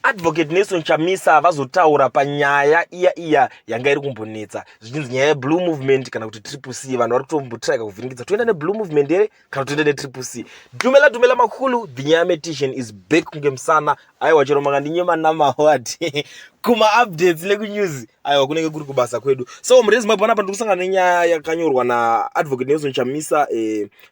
Advocate Nelson Chamisa vazotaura panyaya iya iya yanga iri kumbonetsa zvichinzi nyaya yeblue movement kana kuti triple c vanhu vari kutombotirika kuvhiringidza toenda neblue movement here kana toenda netriple c dumela dumela makulu the nyaya metition is back kunge musana aiwa chero makandinyema namawat kumaupdates nekunews aiwa kunenge kuri kubasa kwedu so murezi mabhona apa ndiri kusangana nenyaya yakanyorwa naadvocate nelson chamisa eh,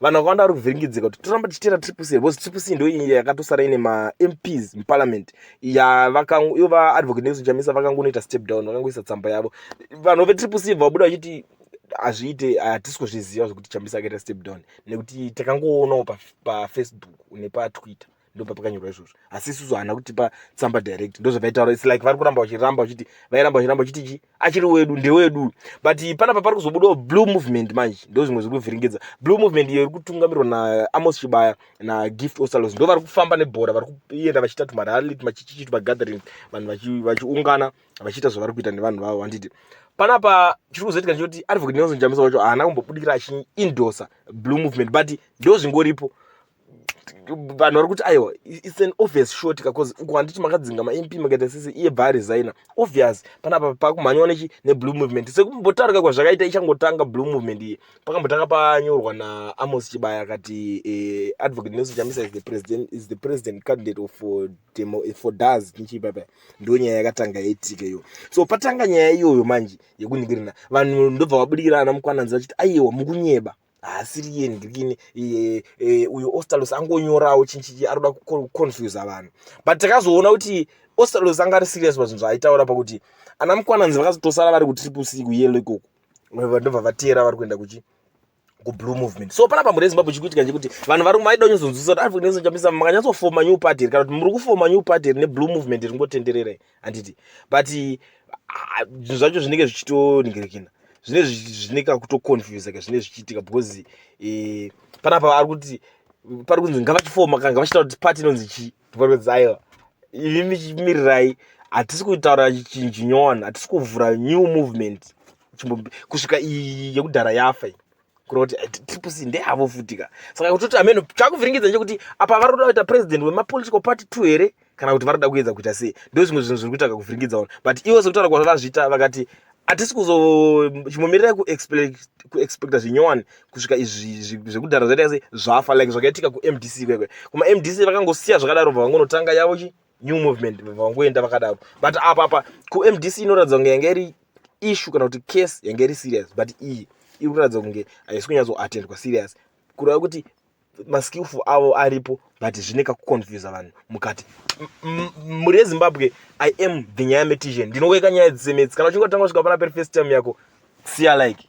vanhu vakawanda vari kuvhiringidzika kuti toramba tichitera triple c because triple c ndo iyi yakatosara ine mamps muparliament yavakaivo vaadvocate nelson chamisa vakangonoita step down vakangoisa tsamba yavo vanhu vetriple c vabuda vachiti hazviite hatisi kuzviziva zvekuti chamisa akaita step down nekuti takangoonawo pafacebook nepatwitter ndopa pakanyorwa izvozvo asi isusu haana kutipa tsamba direct ndozvavaitaura its like vari kuramba vachiramba vachiti vairamba vachiramba vachiti chi achiri wedu ndewedu but panapa pari kuzobudawo blue movement manje ndo zvimwe zviri kuvhiringidza blue movement iyo iri kutungamirwa naamos chibaya nagift osalos ndo vari kufamba nebhora vari kuenda vachiita tumarali tumachichichi tumagathering vanhu vachiungana vachiita zvavari kuita nevanhu vavo vanditi panapa chiri kuzoitika ndechekuti advocate nelson chamisa wacho haana kumbobudikira achiindosa blue movement but ndo zvingoripo vanhu vari kuti aiwa its an obvious short ka bcause uku handiti makadzinga mamp makaita sese iye bva aresigna obvious panapa pakumhanyiwa nechi neblue movement sekumbotaurika kwazvakaita ichangotanga blue movement iye pakambotanga panyorwa naamos chibaya akati eh, advocate nelson chamisa is the president, is the president candidate of uh, demo, eh, for das nichiipapa ndo nyaya yakatanga yaitika iyo so patanga nyaya iyoyo manje yekuningirina vanhu ndobva vabudikira ana mukwananzi vachiti aiwa mukunyeba haasiriye ndikini e, e, uyo ostalos angonyorawo chinchichi arikuda kuconfusa vanhu but takazoona kuti ostalos anga ari serious pazvinhu zvaaitaura pakuti ana mukwananzi vakazotosara vari kutriple c kuyelo ikoko ndobva vateera vari kuenda kuchi kublue movement so panapa mhuri yezimbabwe chikuitika chekuti vanhu vari maida kunyozonzwisa kuti arikunyatsochambisa makanyatsofoma new party here kana kuti muri kufoma new party here neblue movement ringotenderera here handiti but zvinhu ah, zvacho zvinenge zvichitoningirikina zvine zvine kakutoconfuse ka zvine zvichiitika because eh, panapa ari kuti pari kunzi ngavachifoma ka ngavachitaura kuti pati inonzi chii ndiparikudzi aiwa imi mirirai hatisi kutaura chinhu chinyowani hatisi kuvhura new movement kusvika iyi yekudhara yafa iyi kuroti eh, triplec ndeyavo futi ka saka kutoti ameno chakuvhiringidza nje kuti apa vari kuda kuita president wemapolitical party two here kana kuti vari kuda kuedza kuita sei ndo zvimwe zvinhu zviri kuita kakuvhiringidza ona but ivo sekutaura kwazva vazviita vakati hatisi kuzochimbomirira kuexpecta zvinyowani kusvika izvi zvekudhara zvaita sei zvafa like zvakaitika kumdc kwekwe kumamdc vakangosiya zvakadaro bva vangonotanga yavo chi new movement vangoenda vakadaro but apa apa kumdc inoratidza kunge yanga iri issue kana kuti case yanga iri serious but iyi iri kuratidza kunge haisi kunyatsoatendwa serious kureva kuti maskillful avo aripo but zvine kakuconfusa vanhu mukati mhuri yezimbabwe i am the nyaya metition ndinoweka nyaya dzisemedzi kana uchinge watanga kusvika pana peri first time yako siya like